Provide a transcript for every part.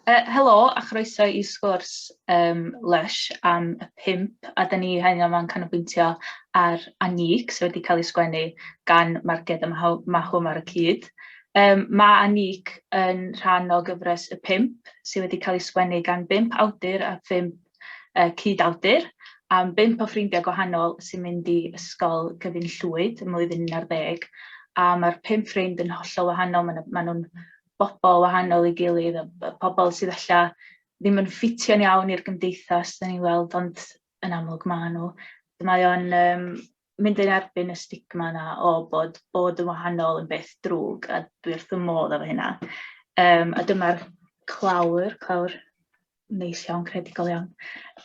Uh, helo a chroeso i sgwrs um, Lush am y pimp a da ni hyn yma'n canolbwyntio ar Anic sydd wedi cael ei sgwennu gan Marged a Mahwm ar y cyd. Um, mae Anic yn rhan o gyfres y pimp sydd wedi cael ei sgwennu gan bimp awdur a phimp uh, cyd-awdur am bimp o ffrindiau gwahanol sy'n mynd i ysgol gyfyn llwyd ym mlwyddyn 11 a mae'r pimp ffrind yn hollol wahanol, maen nhw'n bobl wahanol i gilydd a b- pobl sydd ella ddim yn ffitio'n iawn i'r gymdeithas da ni'n weld ond yn amlwg maen nhw. Mae o'n um, mynd yn erbyn y stigma yna o bod bod yn wahanol yn beth drwg a dwi wrth y modd efo hynna. Um, a dyma'r clawr, clawr neis iawn, credigol iawn.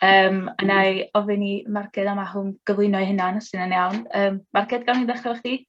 Um, a na i ofyn i Marged am ahwm gyflwyno ei hunan, os yna'n iawn. Um, Marged, gawn ni ddechrau efo chdi?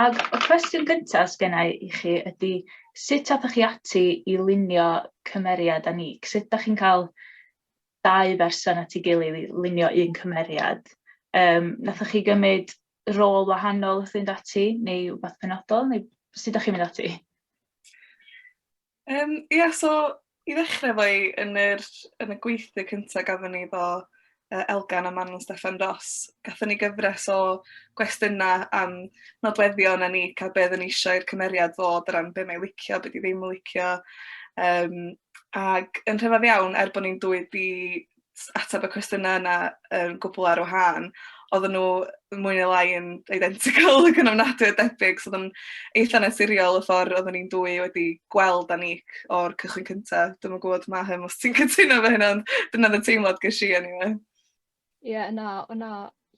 Ac y cwestiwn gyntaf sgynna i i chi ydy sut athoch chi ati i lunio cymeriad a ni? Sut da chi'n cael dau berson at ei gilydd i lunio un cymeriad? Um, nathoch chi gymryd rôl wahanol wrth fynd ati neu rhywbeth penodol neu sut da chi'n mynd ati? Yym ia so i ddechrau efo hi, yn yr... yn y gweithdŷ cyntaf gathon ni efo yy Elgan a Manon Steffan Ros, gathon ni gyfres o gwestiynau am nodweddion a ni a be' oedden ni isio i'r cymeriad fod o ran be' mae 'i licio, be' 'di ddim yn licio yym ac yn rhyfedd iawn er bo' ni'n dwy 'di ateb y cwestiynau yna yn gwbl ar wahân, oedden nhw mwy neu lai yn identical ac yn ofnadwy o debyg, so oedd yn eitha' naturiol y ffordd oedden ni'n dwy wedi gweld â Nick o'r cychwyn cynta. Dwi'm yn gwybod Mahem os ti'n cytuno efo hynna ond dyna oedd y teimlad ges i eniwe. Ie na o' 'na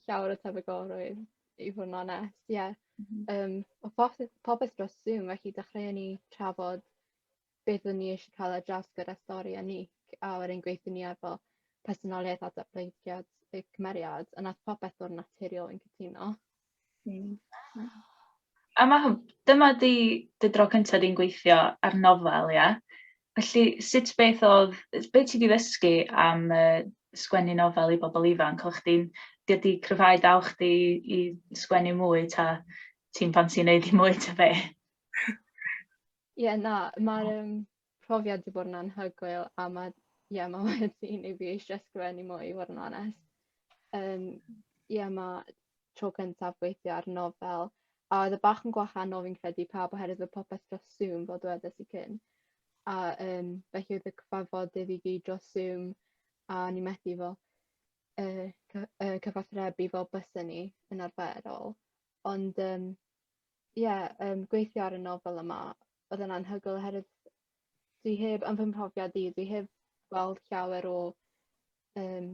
llawer o tebygolrwydd i fod yn onest, ie. Yym o'dd popeth dros Zoom felly dechreuon ni trafod beth o'n ni eisiau cael ar draws gyda stori a Nick a o'r ein gweithio ni efo personoliaeth a datblygiad y cymeriad a nath popeth ddod yn naturiol yn cytuno. Mm. A mae hwn, dyma di dy dro cyntaf di'n gweithio ar nofel, ia? Felly, sut beth oedd, beth ti wedi ddysgu am uh, sgwennu nofel i bobl ifanc? Oedd chdi'n, di wedi cryfhau daw chdi i sgwennu mwy ta ti'n pan ti'n neud i mwy ta be? Ie na ma'r yym profiad 'di bod yn anhygoel a ma' ie ma' wedi neud fi eisie ysgrifennu mwy i fod yn onest. Yym ie ma' tro cyntaf gweithio ar nofel a o'dd e bach yn gwahanol fi'n credu i pawb oherwydd o'dd popeth dros Zoom fel dwedes i cyn a yym felly o'dd y cyfarfodydd i gyd dros Zoom a o'n i methu fel yy cy- yy cyfathrebu fel bysen ni yn arferol ond yym ie yym gweithio ar y nofel yma oedd e'n anhygoel oherwydd dwi heb yn fy mhrofiad i dwi heb gweld llawer o yym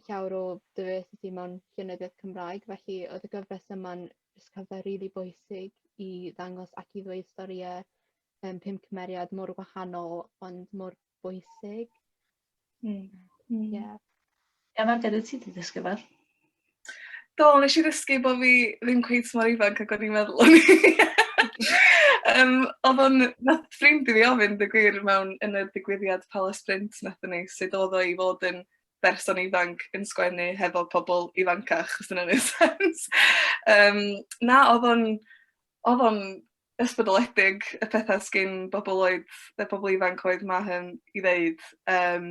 llawer o diversity mewn llenyddiaeth Cymraeg felly oedd y gyfres yma'n jyst cyfle rili bwysig i ddangos ac i ddweud storïau yym pum cymeriad mor wahanol ond mor bwysig. Mm. Mm. Yeah. Emma, beth wyt ti wedi dysgu fel? Do, nes i ddysgu bod fi ddim cweith mor ifanc ac o'n i'n meddwl o'n i. um, oedd o'n, nath ffrind i fi ofyn, dy gwir, mewn yn y digwyddiad Palace Sprint nath ni, sut oedd o i fod yn berson ifanc yn sgwennu hefo pobl ifancach, os yna'n ei sens. um, na, oedd o'n, oedd o'n ysbrydoledig y petha sgin bobol oed yy pobol ifanc oedd Mahon i ddeud yym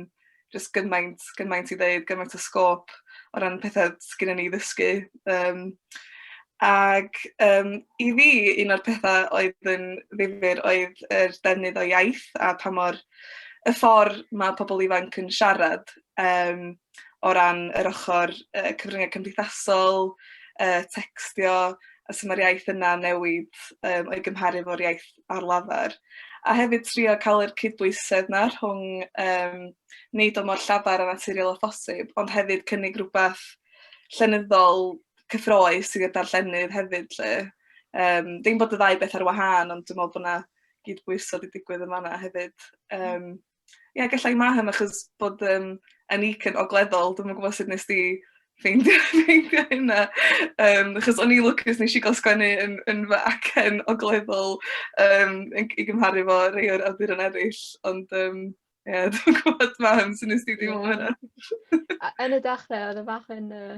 jyst gymaint gymaint i ddeud gymaint o sgôp o ran petha sgynnon ni i ddysgu yym ag yym i fi un o'r petha oedd yn ddifyr oedd yr defnydd o iaith a pa mor y ffor ma' pobol ifanc yn siarad yym o ran yr ochor yy cyfryngau cymdeithasol, yy tecstio, a sut ma'r iaith yna'n newid yym o'i gymharu efo'r iaith ar lafar. A hefyd trio ca'l yr cydbwysedd 'na rhwng yym neud o mor llafar a naturiol â phosib ond hefyd cynnig rwbath llenyddol cyffrous i'r darllenydd hefyd 'lly. Yym dim bod y ddau beth ar wahân ond dwi me'wl bo' 'na gydbwyso 'di digwydd yn fan 'na hefyd. Yym. Ie gallai ma' hyn achos bod yym yn UK yn ogleddol dwi'm yn gwbod sut nest di ffeindio ffeindio hynna yym achos o'n i lwcus nesh i ga'l sgwennu yn yn fy acen ogleddol yym yn g- i gymharu efo rei o'r awduron eryll ond yym ie dwi'm yn gwbod mam sut nest di deimlo am hynna? Yy yn y dechre odd e bach yn yy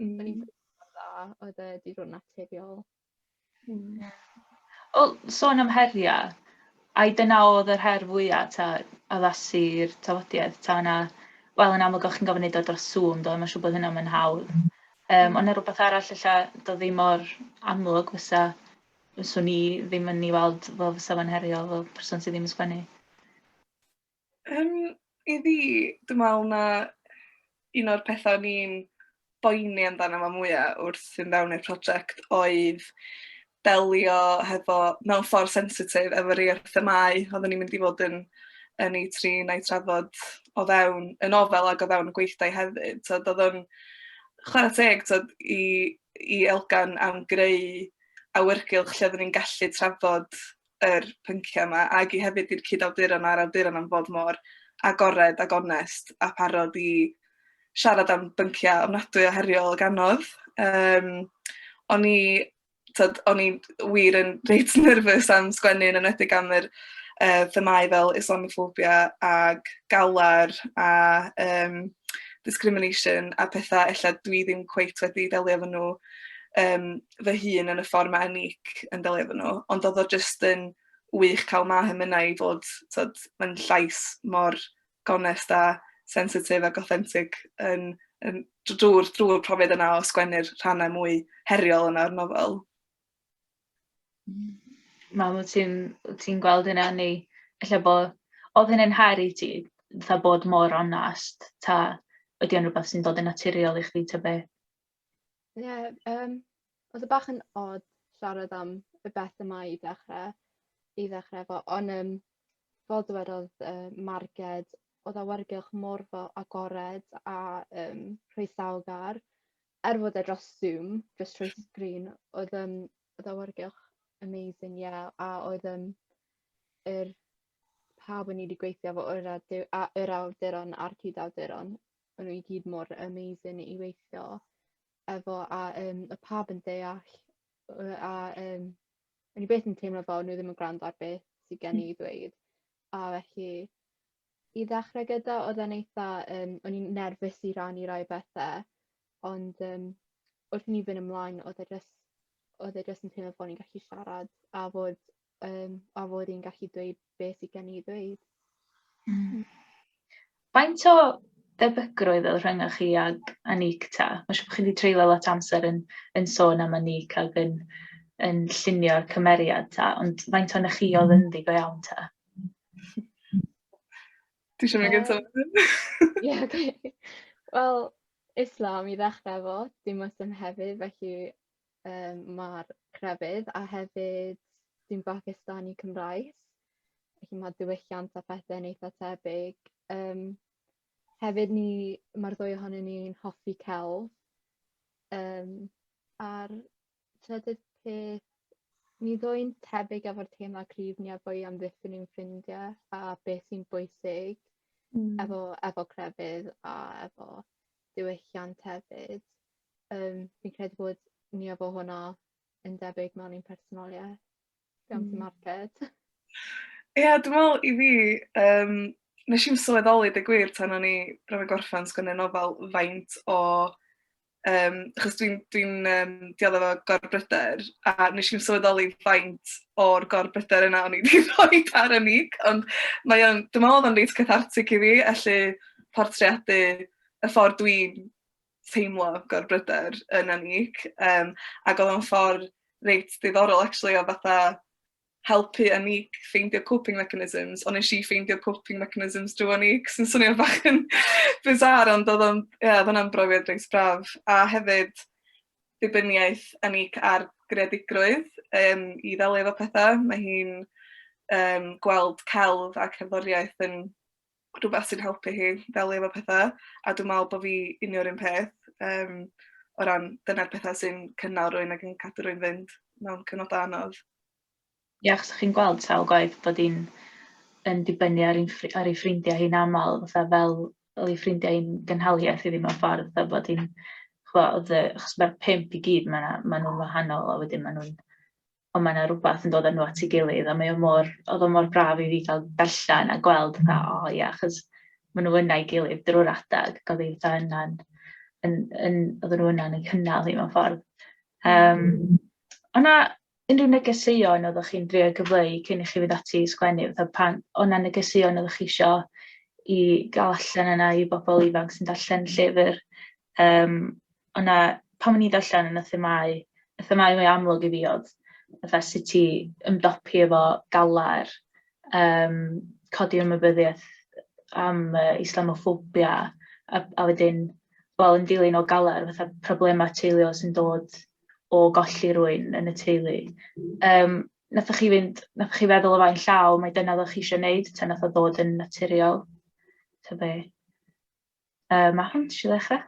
Mm. O'n i'n ffeindio mor dda, oedd e 'di bod yn naturiol. Mm. Wel, sôn am heriau, ai dyna oedd yr her fwyaf ta addasu'r tafodiaith, ta yna, wel yn amlwg o'ch chi'n gofyn neud o dros Zoom do, mae'n siŵr bod hynna mae'n hawdd. Um, ond yna rhywbeth arall lle do ddim mor amlwg fysa, fyswn ni ddim yn ei weld fel fysa fo'n heriol fel person sydd ddim yn sgwennu. Yym, i fi, dwi me'wl ma' un o'r petha o'n i'n boeni amdano fo mwya wrth fynd fewn i'r project oedd delio hefo mewn ffor sensitif efo rei o'r themâu odden ni'n mynd i fod yn yn eu trin a'u trafod o fewn y nofel ag o fewn y gweithdai hefyd t'od odd o'n chwara teg t'od i i Elgan am greu awyrgylch lle odden ni'n gallu trafod yr pynciau yma ac i hefyd i'r cyd-awduron a'r awduron am fod mor agored ac onest a parod i siarad am bynciau ofnadwy o heriol ag anodd. Um, o'n i, tyd, o'n i wir yn reit nerfus am sgwennu yn enwedig am yr uh, themau fel Islamophobia ag galar a um, discrimination a pethau ella dwi ddim cweit wedi delio efo nhw um, fy hun yn y ffordd mae Anic yn delio efo nhw, ond oedd o jyst yn wych cael Maham yna i fod, tod, mae'n llais mor gonest a sensitif ac authentic yn, yn drwy'r drwy profiad yna o sgwennu'r rhannau mwy heriol yna o'r nofel. Mam, wyt ti'n ti gweld hynna neu efallai bod, oedd hynny'n her i ti, fatha bod mor onast, ta ydy o'n rhywbeth sy'n dod yn naturiol i chdi ta beth? Ie yym oedd e bach yn od siarad am y beth yma i ddechrau i ddechrau efo ond yym fel dywedodd yy Marged oedd awyrgylch mor fel agored a yym croesawgar er fod e dros Zoom jyst trwy sgrin oedd yym oedd awyrgylch amazing ie a oedd yym yr pawb o'n i 'di gweithio efo oedd a dy- a yr awduron a'r cyd-awduron maen nhw i gyd mor amazing i weithio efo a um, y pab yn deall a um, o'n i beth yn teimlo fel nhw ddim yn gwrando ar beth sydd gen i hmm. ddweud a felly i ddechrau gyda oedd e'n eitha um, o'n i'n nerfus i rannu rai bethau ond um, wrth i ni fynd ymlaen oedd e just oedd e just yn teimlo bod ni'n gallu siarad a fod um, a fod i'n gallu dweud beth sydd gen i ddweud. Mm. Faint o debygrwydd oedd rhyngoch chi ag Anik ta? Mae'n siŵr bod chi wedi treulio lot amser yn, yn sôn am Anik ac yn, yn llunio'r cymeriad ta, ond faint o'n chi oedd yn ddi go iawn ta? Ti eisiau mynd gyntaf? Ie, oce. Wel, Islam i ddechrau efo, dim os dim hefyd, felly Yym ma'r crefydd a hefyd dwi'n Bagistani Cymraes felly ma'r diwylliant a phethe'n eitha tebyg yym hefyd ni ma'r ddwy ohonyn ni'n hoffi celf yym a'r trydydd peth ni ddwy'n tebyg efo'r teimlad cryf ni a bo' i amddiffyn ein ffrindie a beth sy'n bwysig efo efo crefydd a efo diwylliant hefyd. Um, fi'n credu bod ni efo hwnna yn debyg mewn i'n personoliaeth. Be am ti, hmm. Marced? Ie, yeah, dwi'n meddwl i fi, um, nes i'n sylweddoli dy gwir tan o'n i bron yn gorffen sgynnu nofel faint o... Um, achos dwi'n dwi, um, diodda fo gorbryder, a nes i'n sylweddoli faint o'r gorbryder yna o'n i wedi rhoi ar y nig, ond mae o'n, dwi'n meddwl oedd o'n reit cathartic i fi, felly portreadu y ffordd dwi'n teimlo gorbryder yn anig, um, ac oedd o'n ffordd reit ddiddorol actually o fatha helpu anig ffeindio coping mechanisms, ond nes i ffeindio coping mechanisms drwy anig, sy'n swnio bach yn bizar, ond oedd o'n, ie, yeah, oedd brofiad reit braf. A hefyd, dibyniaeth anig ar greadigrwydd um, i ddelio efo pethau. Mae hi'n um, gweld celf a cerddoriaeth yn rhywbeth sy'n helpu hi ddelio efo petha, a dwi'n meddwl bod fi union yr un peth, yym, o ran dyna'r petha sy'n cynnal rhywun ac yn cadw rhywun fynd mewn cyfnodau anodd. Ie, achos chi'n gweld sawl gwaith bod hi'n yn dibynnu ar, un, ar ei ffrindiau hi'n aml, fatha fel oedd ei ffrindiau hi'n gynhaliaeth iddi mewn ffordd, fatha bod hi'n, chwa, oedd, achos mae'r pimp i gyd, mae nhw'n wahanol, a wedyn mae nhw'n ond mae 'na rwbath yn dod â nhw at ei gilydd, a mae o mor... oedd o mor braf i fi gael darllen a gweld fatha, o ia, achos maen nhw yna'i gilydd drwy'r adeg, ac oedd hi fatha yna'n, yn, yn, oedden nhw yna'n ei chynnal hi mewn ffordd. Um, o na unrhyw negeseuon oeddech chi'n drio gyfleu cyn i chi fynd ati i sgwennu, fatha pan, o na negeseuon oeddech chi isio i gael allan yna i bobl ifanc sy'n darllen llyfr, um, Ond na, pan o'n i'n darllen yn y themâu, y themâu mwy amlwg i fi oedd fatha sut i ymdopi efo galar, um, codi ymwybyddiaeth am uh, Islamophobia, a, a wedyn, wel, yn dilyn o galar, fatha problemau teuluol sy'n dod o golli rwy'n yn y teulu. Um, nathoch chi fynd, nathoch chi feddwl o fain llaw, mae dyna ddech chi eisiau gwneud, ta nath o ddod yn naturiol? Ta be? Uh, mae hwn eisiau ddechrau?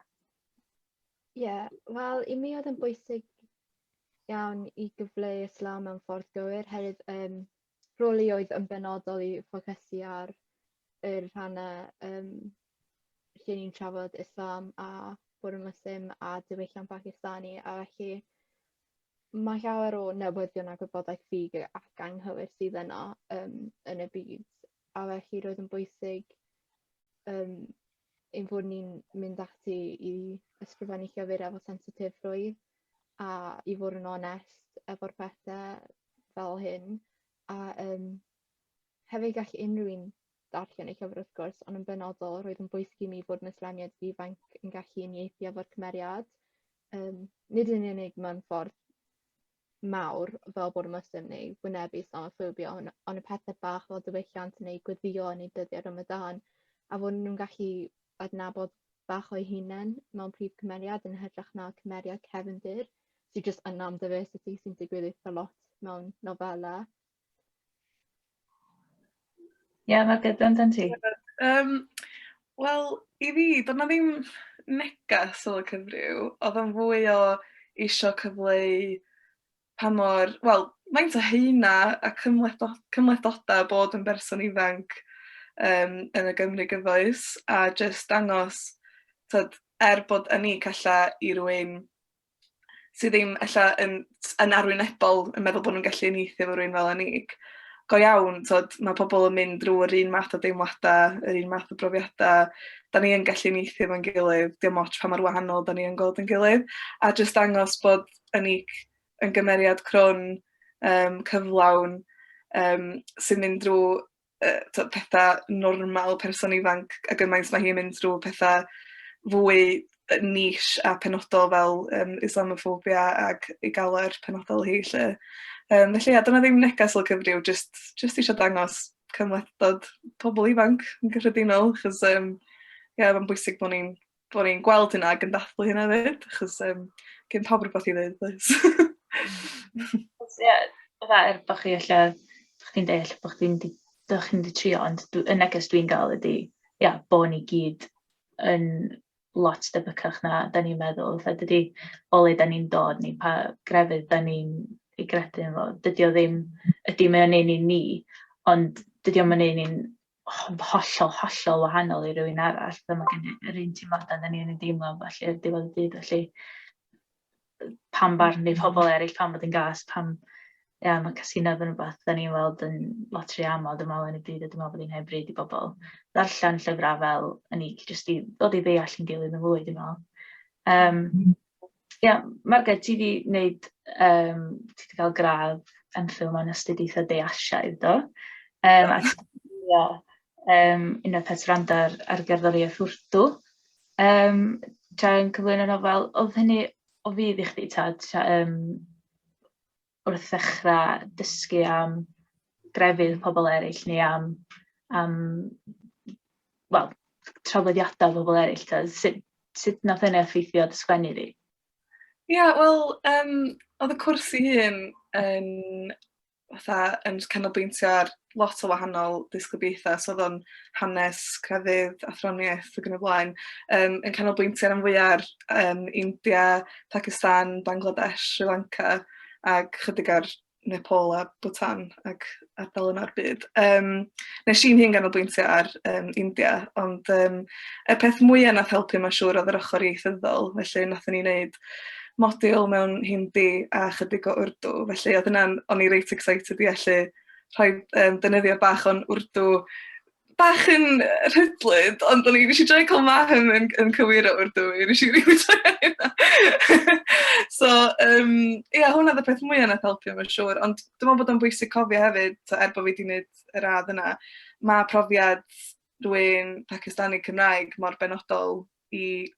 Ie, yeah, wel, i mi oedd yn bwysig iawn i gyfleu Islam mewn ffordd gywir, herwydd um, rôl i oedd yn benodol i ffocysu ar yr rhannau um, lle ni'n trafod Islam a bod yn Muslim a diwylliant Pakistani a felly mae llawer o newyddion a gwybodaeth ffug ac anghywir sydd yno um, yn y byd a felly roedd yn bwysig um, ein bod ni'n mynd ati i ysgrifennu llyfr efo sensitifrwydd a i fod yn onest efo'r pethau fel hyn. A um, hefyd gall unrhyw un darllen y llyfr wrth gwrs, ond yn benodol roedd yn bwysig i mi fod yn Islamiad ifanc yn gallu unieithu efo'r cymeriad. Um, nid yn unig mae'n ffordd mawr fel bod y Muslim neu wynebu Islamophobia ond ond y pethe bach fel diwylliant neu gweddïo yn eu dyddiau Ramadan a fod nhw'n gallu adnabod bach o'u hunain mewn prif cymeriad yn hytrach na cymeriad cefndir sy jyst yna am diversity sy'n digwydd eitha lot mewn nofela Ie, yeah, mae gyda'n dan ti. Um, Wel, i fi, doedd na ddim negas o y cyfryw, oedd o'n fwy o eisiau cyfleu pa mor, wel, faint o heina a cymhlethdod, cymhlethdodau bod yn berson ifanc um, yn y Gymru gyfoes, a jyst dangos, tyd, er bod yn ni calla i rwy'n sydd ddim ella yn, yn arwynebol yn meddwl bod nhw'n gallu unieithu efo rhywun fel Anig. Go iawn, tod, mae pobl yn mynd drwy yr un math o deimladau, yr un math o brofiadau. Da ni yn gallu unieithu efo'n gilydd, dim ots pa mor wahanol da ni yn gweld yn gilydd. A jyst dangos bod Anig yn gymeriad crwn, um, cyflawn, um, sy'n mynd drwy yy t'od petha normal person ifanc a gymaint ma' hi'n mynd drw petha fwy yy niche a penodol fel yym Islamophobia ag ei galwad penodol hi 'lly. Yym felly ia dyna ddim negas o cyfryw jyst jyst isio dangos cymhlethdod pobol ifanc yn gyffredinol achos yym ia ma'n bwysig bo' ni'n bod ni'n gweld hynna ac yn dathlu hynna hefyd, achos um, gen pawb rhywbeth i ddweud, does? Ie, fatha er bod chi lle, dych chi'n deall bod chi'n di, dych chi'n di trio, ond dwi, y neges dwi'n gael ydy, ia, bod ni gyd yn lot debycach na da ni'n meddwl. Fatha dydy o le da ni'n dod ni, pa grefydd da ni'n ei gredu yn fo, dydy o ddim, ydy mae o'n ein i ni, ond dydy o'n mynd ein i'n hollol, hollol wahanol i rywun arall. Fel mae gen i yr un teimladau da ni'n ei deimlo felly ar diwedd y dydd felly pam barn i pobl eraill pam bod yn gas, pam ia, mae casineb yn rhywbeth da ni'n weld yn lot rhy aml dwi'n meddwl yn y byd a dwi'n meddwl bod hi'n hen bryd i bobl ddarllen llyfrau fel yn i jyst i ddod i ddeall yn gilydd yn fwy dwi'n meddwl. Um, Ia, Margaret, ti 'di wneud yym... ti 'di cael gradd MPhil mewn Astudiaethau De Asiaidd, do? Yym a ti 'di gwylio yym Unwaith At Wrando ar ar gerddoriaeth Urdu yym tra yn cyflwyno nofel. Oedd hynny o fudd i chdi ta, ta yym... wrth ddechrau dysgu am grefydd pobl eraill neu am, am wel, trafodiadau pobl eraill? Ta? Sut, sut nath hynny effeithio dy sgwennu di? Ie, yeah, wel, um, oedd y cwrs i hun yn, fatha, yn canolbwyntio ar lot o wahanol ddisgyblaethau, so oedd o'n hanes, crefydd, athroniaeth ac yn y blaen, um, yn canolbwyntio rhan fwyaf ar um, India, Pakistan, Bangladesh, Sri Lanka ac chydig ar Nepal a Bhutan ac ardal yna'r byd. Um, nes i'n hun ganolbwyntio ar um, India, ond um, y peth mwyaf nath helpu mae'n siŵr oedd yr ochr ieithyddol, felly nath ni wneud modul mewn Hindi a chydig o Urdu, felly oedd yna'n, o'n i reit excited i allu rhoi um, dynyddiad bach o'n wrdw bach yn rhydlyd, ond o'n i eisiau droi cael mahem yn, yn cywir o wrdw i, nes i rili troi So, um, ia, yeah, hwnna dda peth mwyaf nath helpu mae'n siŵr, ond dwi'n meddwl bod o'n bwysig cofio hefyd, so, er bod fi wedi gwneud y radd yna, mae profiad rwy'n Pakistani Cymraeg mor benodol i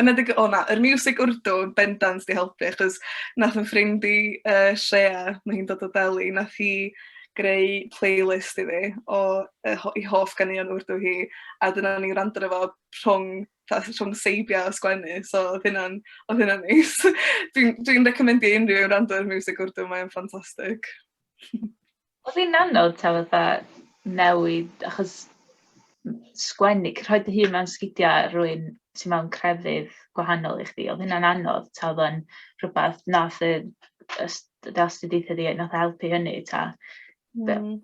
Yn edrych o na, yr music Urdu bendant 'di helpu achos nath 'yn ffrind i yy Shreya, ma' hi'n dod o Delhi, nath hi greu playlist i fi o yy ho- 'i hoff ganeuon Urdu hi, a dyna o'n i'n gwrando arno fo rhwng fatha rhwng seibiau a sgwennu, so odd hynna'n odd hynna'n neis. Dwi'n dwi'n reccommendio i unrhyw un wrando ar miwsig Urdu mae o'n ffantastig. Oedd hi'n anodd ta fatha newid achos m- sgwennu c- rhoi dy hun mewn sgidia rywun sy mewn crefydd gwahanol i chdi, oedd hynna'n anodd ta oedd o'n rhywbeth wnaeth y y s- dy astudiaethau di wnaeth e helpu hynny ta? Be- Hmm.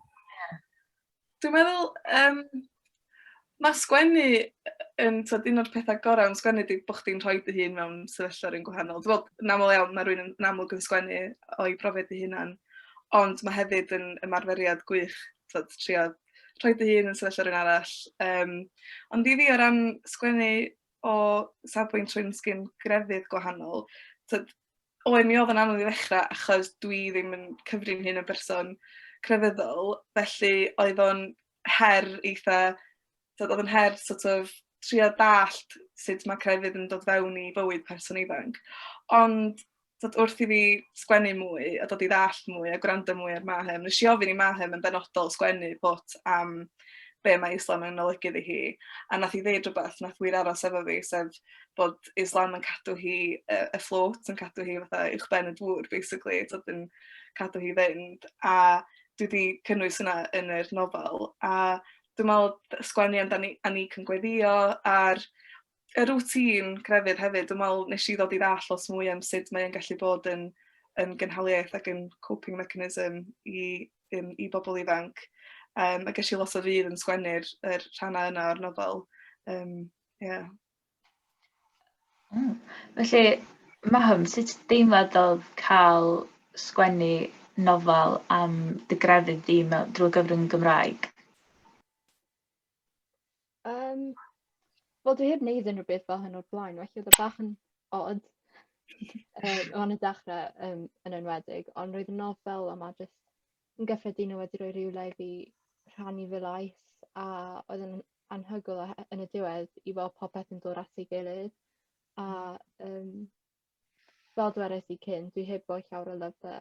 Dwi'n meddwl yym Mae sgwennu yn, tywed, un o'r pethau gorau yn sgwennu ydy bod chdi'n rhoi dy hun mewn sefyllfa rhywun gwahanol. Dwi'n meddwl, yn aml iawn, mae rhywun yn amlwg yn sgwennu o'i brofiad ei hunan, ond mae hefyd yn ymarferiad gwych, tywed, trio rhoi dy hun yn sefyllfa rhywun arall. Um, ond i fi o ran sgwennu o safbwynt rhywun sgyn grefydd gwahanol, tywed, oed mi oedd yn anodd i ddechrau achos dwi ddim yn cyfrin hyn yn berson crefyddol, felly oedd o'n her eitha, tibod oedd yn her sort of trio dallt sut mae crefydd yn dod fewn i fywyd person ifanc. Ond tibod, wrth i fi sgwennu mwy a dod i ddallt mwy a gwrando mwy ar Mahem, nes i ofyn i Mahem yn benodol sgwennu bot am be mae Islam yn olygu iddi hi. A nath i ddeud rhywbeth, nath wir aros efo fi, sef bod Islam yn cadw hi uh, afloat, yn cadw hi fatha uwch ben y dŵr, basically, so yn cadw hi fynd. A dwi 'di cynnwys hwnna yn yr nofel, a dwi me'wl d- sgwennu amdani a ni cyn gweddïo a'r y routine crefydd hefyd dwi me'wl nesh i ddod i ddall' lot mwy am sud mae e'n gallu bod yn yn gynhaliaeth ac yn coping mechanism i yym i bobl ifanc yym a gesh i lot o fudd yn sgwennu'r yr rhannau yna o'r nofel yym ie. Mm. Felly Maham sut deimlad odd ca'l sgwennu nofel am dy grefydd di mew- drwy gyfrwng y Gymraeg? Yym wel dwi heb neud unrhyw beth fel hyn o'r blaen felly o'dd o bach yn od yym o yn y dechre yym yn enwedig ond roedd y nofel yma jyst yn gyffredinol wedi rhoi rywle i fi rhannu fy lais a oedd yn anhygoel a yn y diwedd i weld popeth yn dod at ei gilydd a yym fel dwedais i cyn dwi heb roi llawer o lyfre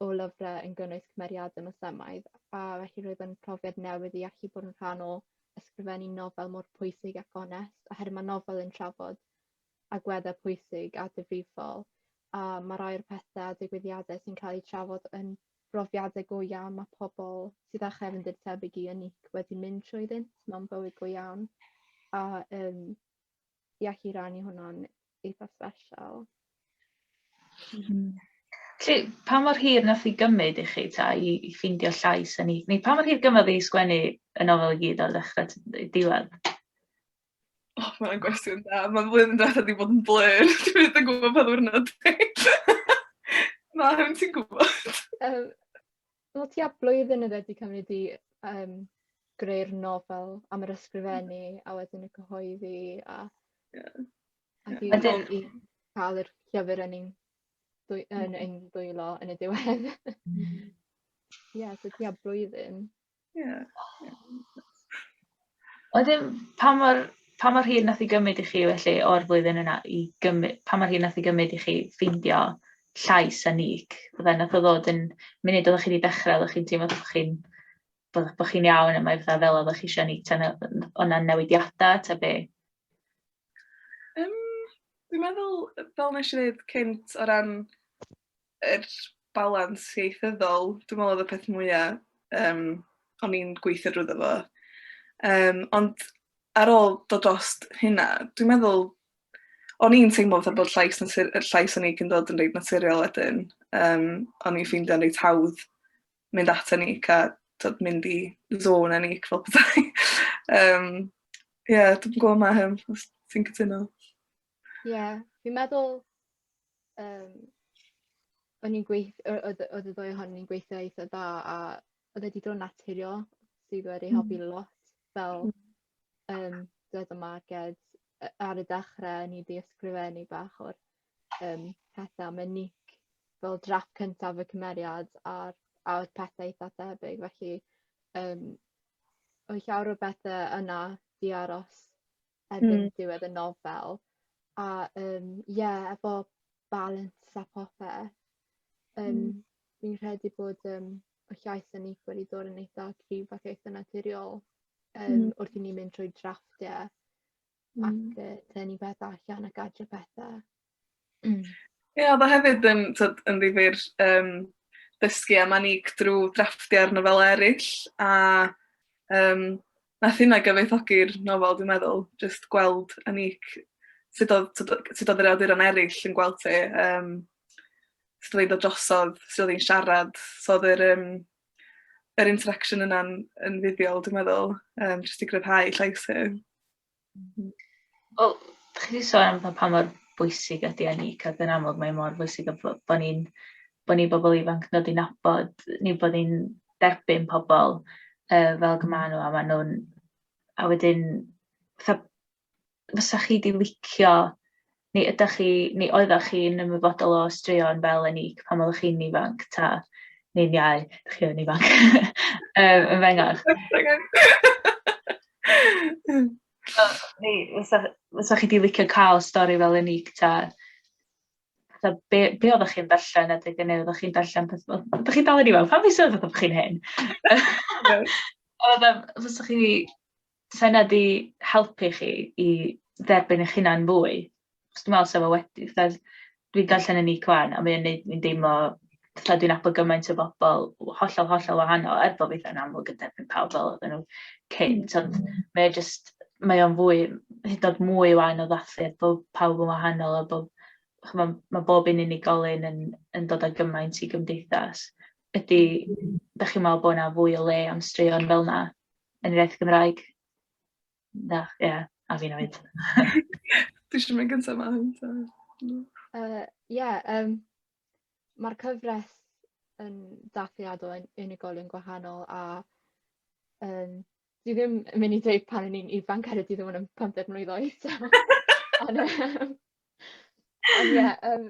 o lyfre yn gynnwys cymeriade Mwslemaidd a felly roedd yn profiad newydd i allu bod yn rhan o ysgrifennu nofel mor pwysig ac onest oherwydd ma' nofel yn trafod agweddau pwysig a difrifol a mae rhai o'r pethau a digwyddiadau sy'n cael eu trafod yn brofiadau go iawn mae pobl sydd â chefndir tebyg i Unique wedi mynd trwyddynt mewn bywyd go iawn a um, i allu rannu hwnna'n eitha special. Mm. Lly, pa mor hir nath i gymryd i chi ta i, i ffindio llais yn ni? Neu pa mor hir gymryd i sgwennu y nofel i gyd o'r ddechrau diwedd? O, mae hwnna'n gwestiwn da. Mae flwyddyn diwethaf wedi bod yn blur. Dwi byth yn gwybod pa ddiwrnod dwi. Na, hwn ti'n gwybod. Um, Wel, ti a blwyddyn yna wedi cymryd i um, greu'r nofel am yr ysgrifennu a wedyn y cyhoeddi a... Yeah. A yeah. Wedyn... i cael yr llyfr yn ein, dwy, yn ein dwylo yn y diwedd. Mm. Ie, yeah, so ti a blwyddyn. Ie. Wedyn pa mor pa mor hir nath 'i gymyd i chi felly o'r flwyddyn yna i gymy- pa mor hir nath 'i gymyd i chi ffeindio llais a nick fydde nath o ddod yn munud oddach chi 'di dechre oddach chi'n teimlo bo' chi'n bo' bo' chi'n iawn a mae fatha fel oddach chi isio neud ta ne- yy n- o' 'na newidiada ta be'? Yym dwi'n meddwl yy fel nesh i ddeud cynt o ran yr balans ieithyddol dwi me'wl odd y peth mwya yym o'n i'n gweithio drwyddo fo. Yym ond ar ôl dod drost hynna dwi meddwl o'n i'n teimlo fatha bod llais natur- yy llais unique yn dod yn reit naturiol wedyn. Yym o'n i'n ffeindio'n reit hawdd mynd at unique a t'od mynd i zone unique fel petai. Yym ie dwi'm yn gw'o' ma' hyn os ti'n cytuno. Ie, fi'n meddwl yym o'n i'n gweith- yy oedd y oedd y ddwy ohonyn ni'n gweithio eitha' dda a oedd e 'di dod yn naturiol sydd wedi helpu lot fel yym dwed y Marged yy ar y dechre o'n i 'di ysgrifennu bach o'r yym pethe am y nick fel drafft cyntaf y cymeriad a'r a o'dd pethe eitha' thebyg felly yym oedd llawer o bethe yna 'di aros erbyn mm. diwedd y nofel a um, yeah, efo balance a popeth um, mm. fi'n credu bod um, y llais yn eithaf wedi dod yn eitha rhyw fath eitha naturiol um, mm. wrth i ni mynd trwy drafftio mm. ac uh, dyn ni beth allan ac adre pethau Mm. Ie, oedd o hefyd yn, tyd, yn ddifur um, dysgu am Anig drwy drafftio'r nofel eraill, a um, nath hynna gyfoethogi'r nofel, dwi'n meddwl, just gweld Anig, sut oedd, sut oedd yr awduron eraill yn gweld ti, um, sut oedd hi'n dod drosodd, sut oedd hi'n siarad, so oedd yr, um, yr interaction yna'n yn fuddiol, dwi'n meddwl, um, jyst i gryfhau llais hi. Wel, dach chi 'di sôn am fatha pa mor bwysig ydi eni, ac yn amlwg mae mor bwysig ein bod bo' ni'n bo' ni bobl ifanc yn dod i nabod neu bod ni'n derbyn pobl yy fel ag y ma' nhw a ma' nhw'n a wedyn fatha fysa chi 'di licio Ni ydach chi, ni oeddach chi yn ymwybodol o straeon fel Enic pan oeddech chi'n ifanc, ta? Ni'n iau, dych chi yn ifanc. um, yn fengach. Ni, fysa chi di licio cael stori fel Enic, ta? ta be, be oeddech chi'n darllen a deg yn ei, oeddech chi'n darllen peth... Oeddech chi'n dal yn ifanc, pan fi sôn oeddech chi'n hyn? Oeddech chi 'Sa hynna 'di helpu chi i dderbyn eich hunan fwy? Achos dwi'n meddwl 'sa fo wedi. Fatha, dwi'n darllen y Nick ŵan, a mae o'n wneud fi'n deimlo fatha dwi'n nabod gymaint o bobl w- hollol, hollol wahanol, er bo' fi itha'n amlwg yn derbyn pawb fel oedden nhw cynt, ond mae o jyst, mae o'n fwy, hyd yn oed mwy ŵan o ddathliad bo' pawb yn wahanol a bo', chimod, ma' bob un unigolyn yn yn dod â gymaint i gymdeithas. Ydy... dach chi'n meddwl bod 'na fwy o le am straeon fel 'na? yn yr iaith Gymraeg. Na, ie, yeah, a fi'n oed. Dwi eisiau mynd gyntaf ma hyn. Ie, uh, yeah, um, mae'r cyfres yn dathliadol yn unigolion gwahanol a um, dwi ddim yn mynd i dweud pan o'n i'n ifanc ar y dydd o'n yn 50 mlynedd oed. Ond ie, um,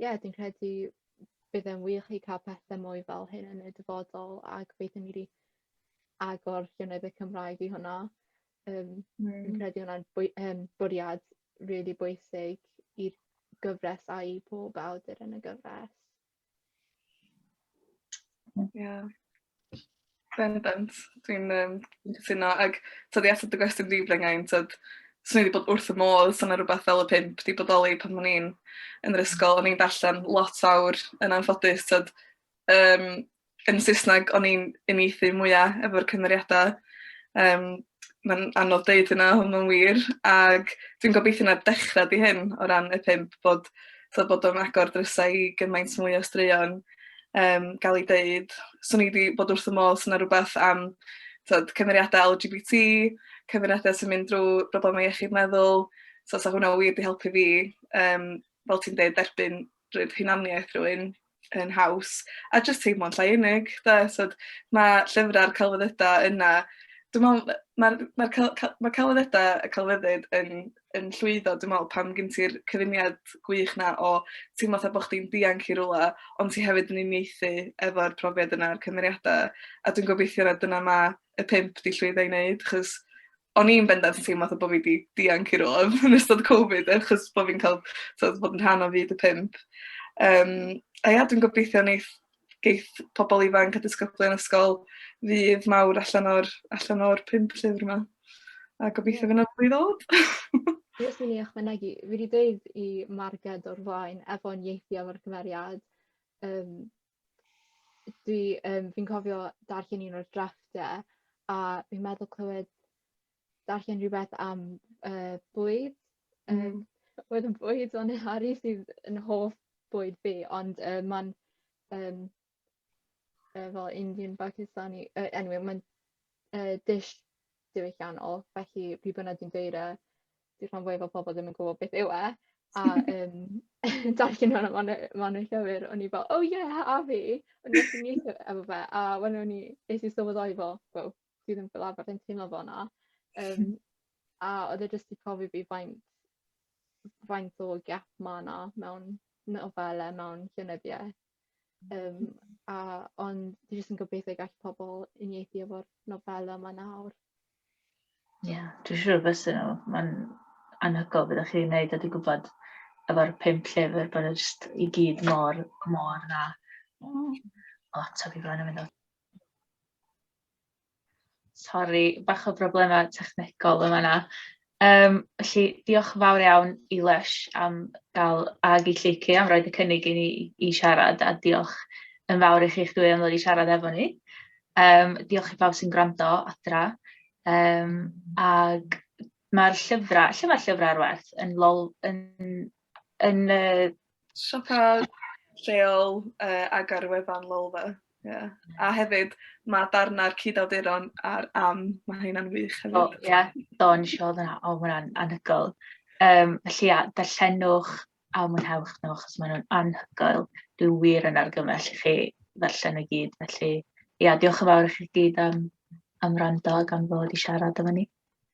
ie, dwi'n credu bydd e'n wych i cael pethau mwy fel hyn yn y dyfodol a gobeithio ni 'di agor llynedd y Cymraeg i hwnna. Yym... Mm. ...fi'n credu hwnna'n bwy- yym bwriad rili bwysig i'r gyfres a i pob awdur yn y gyfres. Ie. Bendant. Dwi'n yym dwi'n cytuno ag t'od i atab dy gwestiwn di Mengai t'od swn i 'di bod wrth fy modd sa 'na rwbath fel y pump 'di bodoli pan o'n i'n yn yr ysgol o'n i'n darllan lot fawr yn anffodus t'od yym yn Saesneg o'n i'n uniaethu mwya efo'r cymeriada yym ma'n anodd deud hynna on' ma'n wir ag dwi'n gobeithio na dechra 'di hyn o ran y pump bod t'od bod o'n agor drysau i gymaint mwy o straeon um, gael ei dweud. So ni wedi bod wrth y modd sy'n rhywbeth am tyd, cymeriadau LGBT, cymeriadau sy'n mynd drwy broblemau iechyd meddwl. So sa hwnna wir wedi helpu fi, um, fel ti'n dweud, derbyn rhywbeth hunaniaeth rhywun yn haws. A jyst teimlo'n llai unig. Da. So, mae llyfrau'r celfyddydau yna Dwi'n meddwl, mae'r mae mae celfyddydau y celfyddyd yn yn llwyddo dwi me'wl pan gin ti'r cyfuniad gwych 'na o teimlo fatha bo' chdi'n dianc i rwla ond ti hefyd yn uniaethu efo'r profiad yna a'r cymeriada a dwi'n gobeithio na dyna ma' y pump 'di llwyddo i neud achos o'n i'n bendant yn teimlo fatha bo' fi 'di dianc i rwla yn ystod Covid achos bo' fi'n ca'l t'od bod yn rhan o fyd y pump. Yym a ia dwi'n gobeithio neith geith pobl ifanc a disgyblion ysgol ddydd mawr allan o'r allan o'r pump llyfr yma. A gobeithio yeah. fydd yna fwy ddod. Fi os mynd i ychwanegu, fi wedi dweud i Marged o'r flaen efo'n ieithi efo'r cymeriad. Um, dwi, um, fi'n cofio darllen un o'r drafftau a fi'n meddwl clywed darllen rhywbeth am uh, bwyd. Um, mm. Oedd yn bwyd o'n Harry sydd yn hoff bwyd fi, ond uh, mae'n um, uh, fel Indian Pakistani, uh, anyway, mae'n uh, dish diwylliannol, felly pryd bynnag dwi'n dweud e, dwi'n rhan fwyaf o pobl ddim yn gwybod beth yw e, a um, darllen hwnna ma'n ma llyfr, o'n i fel, oh yeah, a fi, o'n i'n neud efo fe, a wedyn o'n i, eisiau sylweddoli fel, well, dwi ddim fel arfer yn teimlo fel 'na yym a odd e jyst 'di profi fi faint faint o gap ma' 'na mewn nofele mewn llenyddiaeth yym a ond dwi jyst yn gobeithio gall pobol uniaethu efo'r nofele 'ma nawr. Ie dwi siŵr bysa nhw ma'n anhygoel be' 'dach chi 'di neud a dwi gwbod efo'r pump llyfr bod e jyst i gyd mor mor dda. Hmm. O tyfu bron yn meddwl. Sori, bach o broblemau technegol yn fan'na. Yym, felly, diolch yn fawr iawn i Lysh am gael... ag i Lleucu am roid y cynnig i ni i siarad, a diolch yn fawr i chi'ch dwy am ddod i siarad efo ni. Yym, diolch i bawb sy'n gwrando adra. Yym, ag ma'r llyfrau... lle ma'r llyfrau ar werth? Yn Lol- yn... Yn y... Siopa lleol uh, ag ar y wefan Lolfa. Yeah. A hefyd, mae darnau'r cyd-awduron a'r am, mae hynna'n wych hefyd. O, ie, yeah. do, nes i oedd yna, o, mae hwnna'n anhygoel. Um, felly, ia, darllenwch a mwynhewch nhw, achos maen nhw'n anhygoel. Dwi wir yn argymell i chi ddarllen y gyd, felly, ia, diolch yn fawr i chi gyd am, am rando ac am ddod i siarad efo ni.